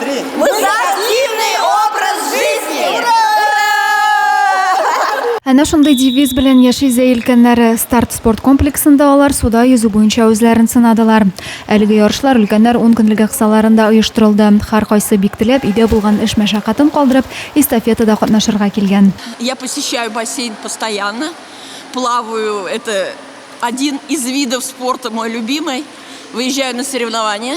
Три. Мы за активный образ жизни! Ура! Әнә шундый девиз белән яши зәйлкәннәре. Старт спорт комплексында алар суда йөзү буенча үзләрен сынадылар. Әлеге ярышлар өлкәннәр 10 көнлеге кысаларында оештырылды. Хар кайсы бик теләп, өйдә булган эш мәшәкатен калдырып, эстафетада катнашырга килгән. Я посещаю бассейн постоянно, плаваю, это один из видов спорта мой любимый, выезжаю на соревнования.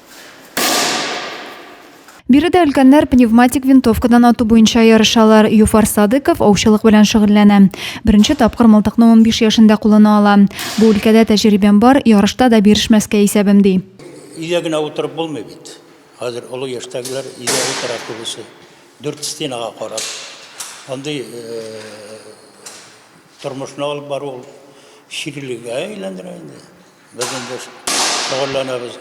Биредә өлкәннәр пневматик винтовкадан ату буенча ярышалар. Юфар Садыков аучылык белән шөгыльләнә. Беренче тапкыр мылтыкны 15 яшендә кулына ала. Бу өлкәдә тәҗрибәм бар, ярышта да бирешмәскә исәбем, ди. Өйдә генә утырып булмый бит. Хәзер олы яшьтәгеләр өйдә утыра күбесе. Дүрт стенага карап. Андый э, тормышны алып бару ул чирлегә әйләндерә инде. Без инде шөгыльләнәбез.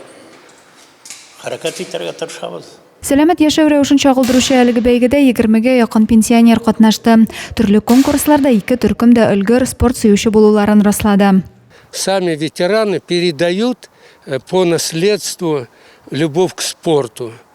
Хәрәкәт итәргә тырышабыз. Сәламәт яшәү рәвешен чагылдыручы әлеге бәйгедә егермегә якын пенсионер катнашты. Төрле конкурсларда ике төркем дә өлгер, спорт сөюче булуларын раслады. Сами ветераны передают э, по наследству любовь к спорту.